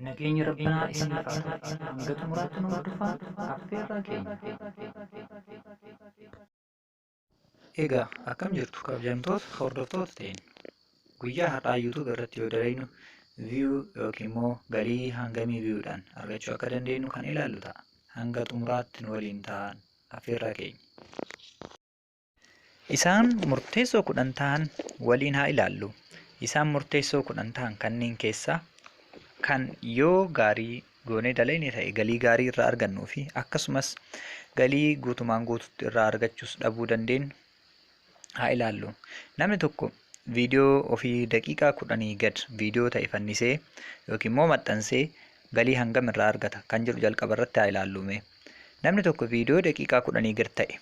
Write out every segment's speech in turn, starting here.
Nageenyi Rabbinaa isinirra haa tahu. Hanga xumuraatti nu hordofaa affeerraa keenya. Egaa akkam jirtu kabajamtoota hordoftoota ta'een guyyaa har'aa YouTube irratti yoo dalagnu view yookiin immoo galii hangamii viewdhaan argachuu akka dandeenyu kan ilaallu ta'a. Hanga xumuraatti nu waliin ta'aa affeerraa keenya. Isaan murteessoo kudhan ta'an waliin haa ilaallu. Isaan murteessoo kudhan ta'an kanneen keessaa kan yoo gaarii goonee dalayne ta'e galii gaarii irraa argannuu fi akkasumas galii guutumaan guututti irraa argachuus dhabuu dandeenyu haa ilaallu. Namni tokko viidiyoo ofii daqiiqaa kudhanii gad viidiyoo ta'e fannisee yookiin immoo maxxansee galii hangam irraa argata kan jedhu jalqaba irratti haa ilaallume. Namni tokko viidiyoo daqiiqaa kudhanii gad ta'e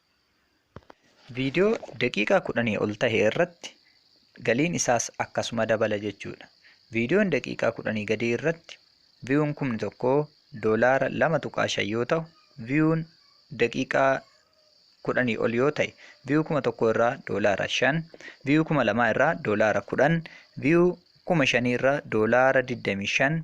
Viidiyoo daqiiqaa kudhanii ol tahe irratti galiin isaas akkasuma dabala jechuudha. Viidiyoon daqiiqaa kudhanii gadii irratti viyuun kumni tokko doolaara lama tuqaa shan yoo tahu viyuun daqiiqaa kudhanii ol yoo tahe viyuu kuma tokko irraa doolaara shan viyuu kuma lamaa irraa doolaara kudhan viyuu kuma shanii irraa doolaara digdamii shan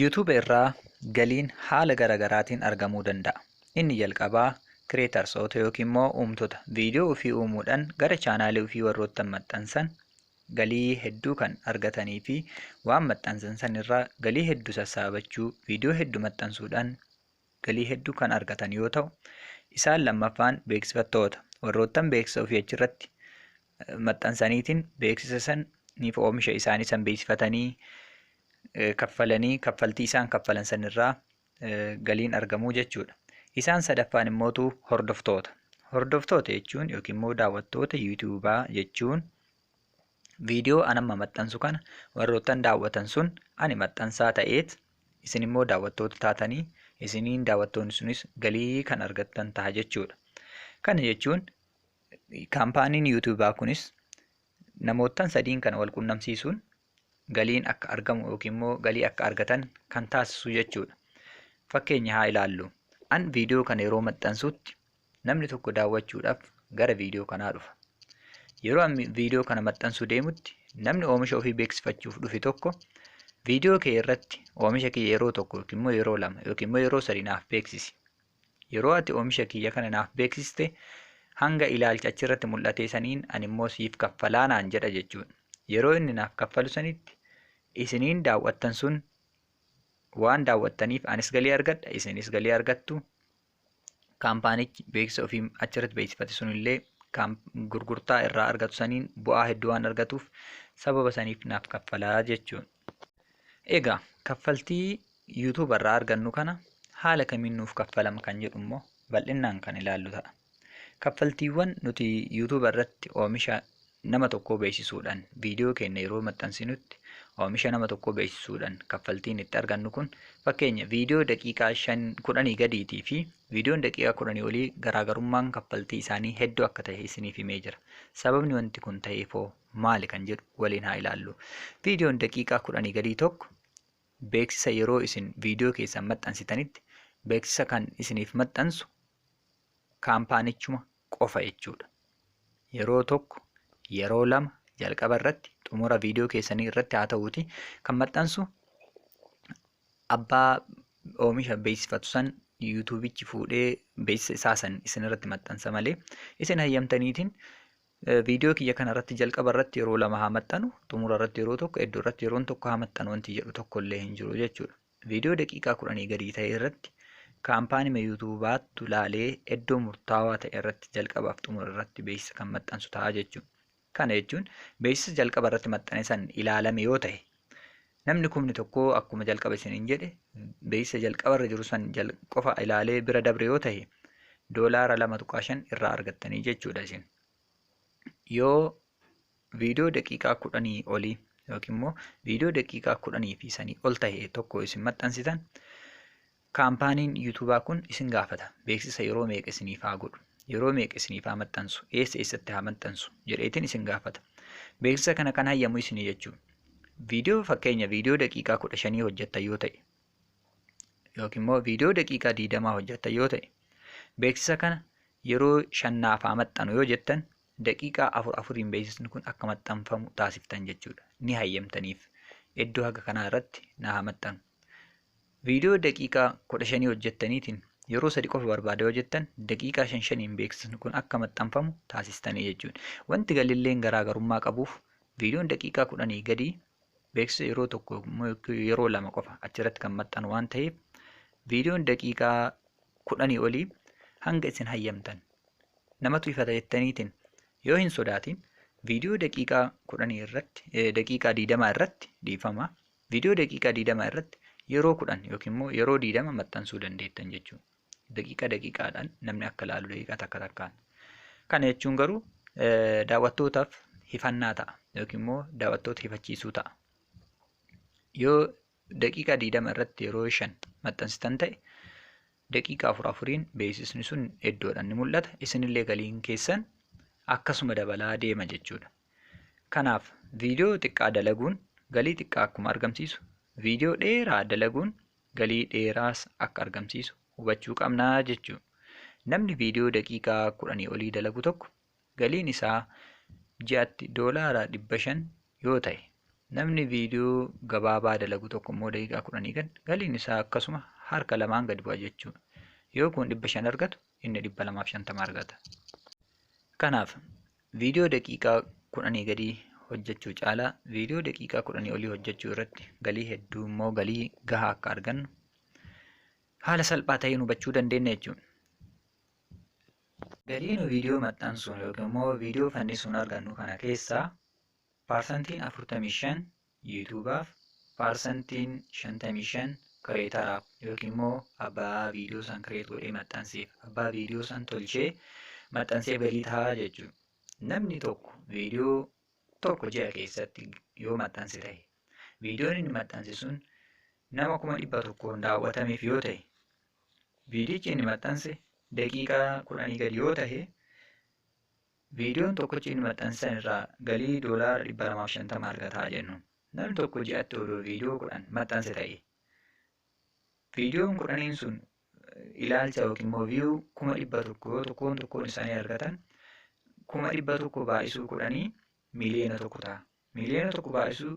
YouTube irraa galiin haala gara garaatiin argamuu danda'a. Inni jalqabaa Creatorsoota yookiin immoo uumtota viidiyoo ofii uumuudhaan gara chaanaalii ofii warroottan maxxansan galii hedduu kan argatanii fi waan maxxansan san irraa galii hedduu sassaabachuu viidiyoo hedduu maxxansuudhaan galii hedduu kan argatan yoo ta'u, isaan lammaffaan beeksifattoota warroottan beeksisa ofii achirratti maxxansaniitiin beeksisa san niif oomisha isaanii san beeksifatanii kaffalanii kaffaltii isaan kaffalan sanirraa galiin argamuu jechuudha. Isaan sadaffaan immootu hordoftoota. Hordoftoota jechuun yookiin immoo daawwattoota yuutuubaa jechuun viidiyoo an amma maxxansu kana warroottan daawwatan sun ani maxxansaa ta'eet Isin immoo daawwattoota taatanii isiniin daawwattoonni sunis galii kan argattan ta'a jechuudha. Kana jechuun kaampaaniin yuutuubaa kunis namoottan sadiin kana wal qunnamsiisuun galiin akka argamu yookiin immoo galii akka argatan kan taasisu jechuudha. Fakkeenya haa ilaallu. An viidiyoo kana yeroo maxxansutti Namni tokko daawwachuudhaaf gara viidiyoo kanaa dhufa. Yeroo an viidiyoo kana maxxansuu deemutti namni oomisha ofii beeksifachuuf dhufe tokko viidiyoo kee irratti oomisha kiyya yeroo tokko yookiin immoo yeroo lama yookiin immoo yeroo sadi naaf beeksisi. Yeroo ati oomisha kiyya kana naaf beeksiste hanga ilaalcha achirratti mul'atee saniin ani immoo siif kaffalaa naan jedha jechuudha. Yeroo inni naaf kaffalu sanitti isiniin daawwattan sun waan daawwattaniif anis galii argadha isinis galii argattu kaampaanichi beeksisa ofii achirratti beeksifate sunillee gurgurtaa irraa argatu saniin bu'aa hedduu waan argatuuf sababa saniif naaf kaffalaa jechuun. Egaa kaffaltii YouTube irraa argannu kana haala kamiin nuuf kaffalama kan jedhu immoo bal'innaan kan ilaallu ta'a. Kaffaltiiwwan nuti YouTube irratti oomisha Nama tokkoo beeksisuudhaan viidiyoo keenya yeroo maxxansinutti oomisha nama tokkoo beeksisuudhaan kaffaltiin itti argannu kun fakkeenya viidiyoo daqiiqaa shan kudhanii gadiitii fi viidiyoon daqiiqaa kudhanii olii garaagarummaan kaffaltii isaanii hedduu akka ta'e isiniif himee jira. Sababni wanti kun ta'eef hoo maali kan jedhu waliin haa ilaallu. Viidiyoon daqiiqaa kudhanii gadii tokko beeksisa yeroo isin viidiyoo keessan maxxansitanitti beeksisa kan isiniif maxxansu kaampaanichuma qofa jechuudha. Yeroo tokko, yeroo lama jalqaba irratti xumura viidiyoo keessanii irratti haa ta'uuti kan maxxansu abbaa oomisha beeksifatu san yuutuubichi fuudhee beeksisa isaa san isin irratti maxxansa malee isin hayyamtaniitiin viidiyoo kiyya kana irratti jalqaba irratti yeroo lama haa maxxanu xumura irratti yeroo tokko iddoo irratti yeroon tokko haa maxxanu wanti jedhu tokko illee hin jiru jechuudha. Viidiyoo daqiiqaa kudhanii gadii ta'e irratti kaampaanima YouTube baattu laalee iddoo murtaawaa ta'e irratti jalqabaaf xumura irratti beeksisa kan maxxansu ta'a jechuudha. Kana jechuun beeksisa jalqaba irratti maxxane san ilaalame yoo ta'e namni kumni tokko akkuma jalqaba isiniin jedhe beeksisa jalqaba irra jiru san qofa ilaalee bira dabre yoo ta'e doolaara lama tuqaa shan irraa argattanii jechuudha isin. Yoo viidiyoo daqiiqaa kudhanii olii yookiin immoo viidiyoo daqiiqaa kudhanii fi sanii ol ta'e tokko isin maxxansitan kaampaaniin yuutuubaa kun isin gaafata beeksisa yeroo meeqa isiniif haa godhu yeroo meeqa isiniif haa maxxansu eessa eessatti haa maxxansu jedheetiin isin gaafata beeksisa kana kan hayyamu isinii jechuu viidiyoo fakkeenya viidiyoo daqiiqaa kudha shanii hojjetta yoo ta'e yookiin immoo viidiyoo daqiiqaa diidamaa hojjetta yoo ta'e beeksisa kana yeroo shannaaf haa maxxanu yoo jettan daqiiqaa afur afuriin beeksisni kun akka maxxanfamu taasiftan jechuudha. Ni hayyamtaniif. Iddoo haga kanaa irratti na haa maxxanu. Viidiyoo daqiiqaa kudha shanii hojjettaniitiin yeroo sadi qofa barbaada yoo jettan daqiiqaa shan shaniin beeksisni kun akka maxxanfamu taasistanii jechuudha. Wanti galilleen garaagarummaa qabuuf viidiyoon daqiiqaa kudhanii gadii beeksisa yeroo tokko yeroo lama qofa achirratti kan maxxanu waan ta'eef viidiyoon daqiiqaa kudhanii olii hanga isin hayyamtan namatu ifata jettaniitiin yoo hin sodaatiin viidiyoo daqiiqaa kudhanii irratti eh, daqiiqaa diidamaa irratti dhiifama viidiyoo daqiiqaa diidamaa irratti yeroo kudhan yookiin immoo yeroo diidama maxxansuu dandeettan jechuudha. Daqiiqa daqiiqaadhaan namni akka ilaalu daqiiqa takka takkaan. Kana jechuun garuu eh, daawwattootaaf hifannaa ta'a yookiin immoo daawwattoota hifachiisuu ta'a. Yoo daqiiqaa diidama irratti yeroo shan maxxansitan ta'e daqiiqaa afur afuriin beeksisni sun iddoodhaan ni mul'ata. Isinillee galiin keessan akkasuma dabalaa deema jechuudha. Kanaaf viidiyoo xiqqaa dalaguun galii xiqqaa akkuma argamsiisu viidiyoo dheeraa dalaguun galii dheeraas akka argamsiisu hubachuu qabna jechuudha. Namni viidiyoo daqiiqaa kudhanii olii dalagu tokko galiin isaa ji'atti doolaara 500 yoo ta'e, namni viidiyoo gabaabaa dalagu tokko immoo daqiiqaa 10 gad galiin isaa akkasuma harka lamaan gad bu'a jechuudha. Yoo kun 500 argatu inni 250 argata. Kanaaf viidiyoo daqiiqaa 10 gadii hojjechuu caalaa viidiyoo daqiiqaa 10 olii hojjechuu irratti galii hedduu immoo galii gahaa akka argannu haala salphaa ta'een hubachuu dandeenya jechuudha. Galii nu viidiyoo maxxansuun yookiin immoo viidiyoo fannisuun argannu kana keessaa paarsantiin 45 yuutuubaaf, paarsantiin 55 kireetaraaf yookiin immoo abbaa viidiyoo san kireet godhee maxxanseef, abbaa viidiyoo san tolchee maxxanseef galii tahaa jechuudha. Namni tokko viidiyoo tokko ji'a keessatti yoo maxxanse tahe, viidiyoon inni maxxanse sun nama kuma dhibba tokkoon daawwatameef yoo tahe, Viidiyichi inni maxxanse daqiiqaa kudhanii gadi yoo tahe, viidiyoon tokkochi inni maxxanse san irraa galii doolaara 250 argataa jennu. Namni tokko ji'atti odoo viidiyoo kudhan maxxanse ta'e, viidiyoon kudhaniin sun ilaalcha yookiin immoo viyuu kuma dhibba tokko yoo tokkoon tokkoon isaanii argatan kuma dhibba tokko baay'isuu kudhanii miiliyoona tokko ta'a. Miiliyoona tokko baay'isuu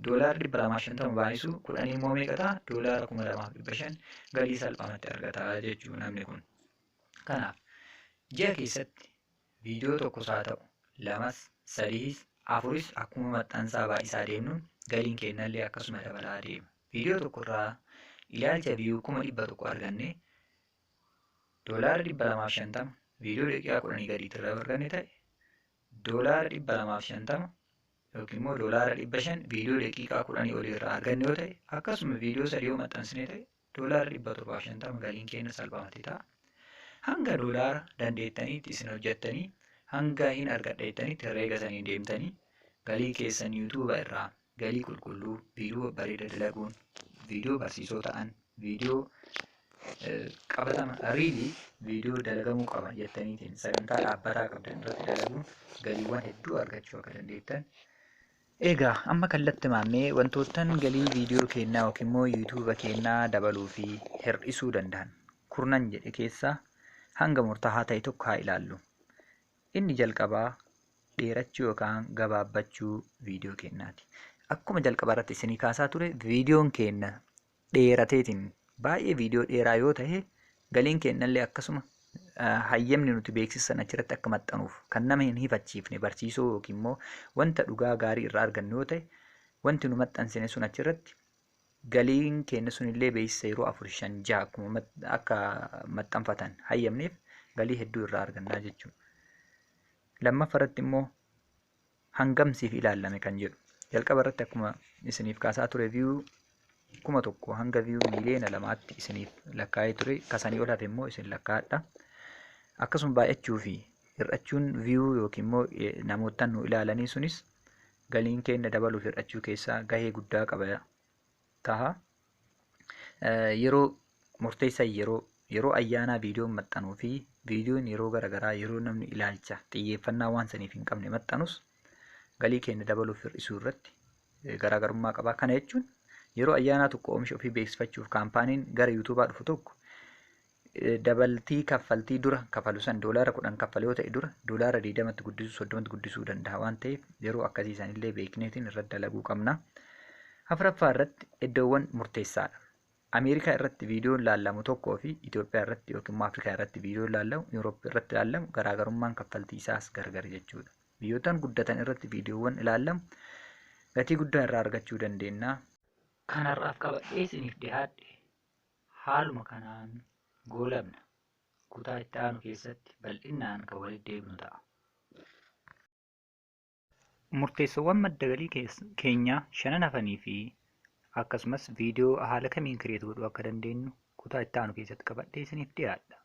doolaara dhibba lamaa fi shantama baay'isu kudhanii immoo meeqa ta'a doolaara kuma lamaa fi dhibba shan galii salphaamatti argata jechuu namni kun. Kanaaf ji'a keessatti viidiyoo tokkos haa ta'u lamas sadiis afuris akkuma maxxansaa baay'isaa deemnuun galiin kennallee akkasuma dabalaa deema. Viidiyoo tokkorraa ilaalcha viyuu kuma dhibba tokko arganne doolaara dhibba lamaa fi shantama viidiyoo daqiiqaa kudhanii gadiitti irraa arganne ta'e doolaara 250 yookiin immoo doolaara 500 viidiyoo daqiiqaa 10 olii irraa arganne yoo ta'e akkasuma viidiyoo sadii yoo maxxansine ta'e doolaara 750 galiin keenya salphamatti ta'a. Hanga doolaara dandeettaniitti isin hojjettanii hanga hin argadha jettanitti herreega saniin deemtanii galii keessan yuutuuba irraa Galii qulqulluu, viidiyoo babbareeda dalaguun, viidiyoo barsiisoo ta'an, viidiyoo qabatama riilii viidiyoo dalagamuu qaban jettaniitiin sagantaa dhaabbataa qabdan irratti dalaguun galiiwwan hedduu argachuu akka dandeettan Egaa amma kallatti maammee wantoottan galii viidiyoo keennaa yookiin immoo yuutuuba keennaa dabaluu fi hir'isuu danda'an kurnan jedhe keessaa hanga murtaa'aa ta'e tokko haa ilaallu. Inni jalqabaa dheerachuu yookaan gabaabbachuu viidiyoo keenyaati. Akkuma jalqaba irratti isinii kaasaa ture viidiyoon keenya dheerateetiin baay'ee viidiyoo dheeraa yoo ta'e galiin keenyallee akkasuma hayyamni nuti beeksisan achirratti akka maxxanuuf kan nama hin hifachiifne barsiisoo yookiin immoo wanta dhugaa gaarii irraa argannu yoo ta'e wanti nu maxxansine sun achirratti galiin keenya sunillee beeksisa yeroo afur shan jaha akkuma mat- akka maxxanfatan hayyamneef galii hedduu irraa argannaa jechuudha. Lammaffaa irratti immoo hangam siif ilaallame kan jedhu jalqaba irratti akkuma isiniif kaasaa ture viyuu kuma tokko hanga viyuu miiliyoona lamaatti isiniif lakkaa'ee ture kasanii ol hafe immoo isin lakkaa'adha. Akkasuma baay'achuu fi hir'achuun viyuu yookiin immoo eh, namoota nu ilaalanii sunis galiin keenya dabaluuf hir'achuu keessaa gahee guddaa qaba taha. Yeroo murteessaa yeroo yeroo ayyaanaa viidiyoon maxxanuu fi viidiyoon yeroo garaagaraa yeroo namni ilaalcha xiyyeeffannaa waan saniif hin qabne maxxanus galii keenya dabaluuf hir'isuu irratti garaagarummaa qaba. Kana jechuun yeroo ayyaanaa tokko oomisha ofii beeksifachuuf kaampaaniin gara yuutuubaa dhufu tokko dabaltii kaffaltii dura kafalu san doolaara kudhan kaffale yoo ta'e dura doolaara digdamatti guddisuu soddomatti guddisuu danda'a waan ta'eef yeroo akkasii sanillee beekneetiin irratti dalaguu qabna. Afraffaa irratti iddoowwan murteessaadha. Ameerikaa irratti viidiyoon laallamu tokkoo fi Itoophiyaa irratti yookiin immoo Afrikaa irratti viidiyoon laallamu Yuuroop irratti laallamu garaagarummaan kaffaltii isaas gargar jechuudha. Biyyoottan guddatan irratti viidiyoowwan ilaallamu gatii guddaa irraa argachuu dandeenya. Kanarraaf qabadhee isiniif dhihaadhe. Haaluma kanaan goolabna. Kutaa itti aanu keessatti bal'innaan kan walitti deebinu ta'a. Murteessoowwan madda galii kees- keenyaa shanan hafanii fi akkasumas viidiyoo haala kamiin kireet godhuu akka dandeenyu kutaa itti aanu keessatti qabadhee isiniif dhiyaadha.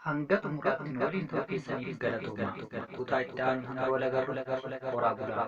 Hanga xumuraatti nu waliin turuu keessaniif galatoomaa. Kutaa itti aanu hanga wal agarru horaa bulaa.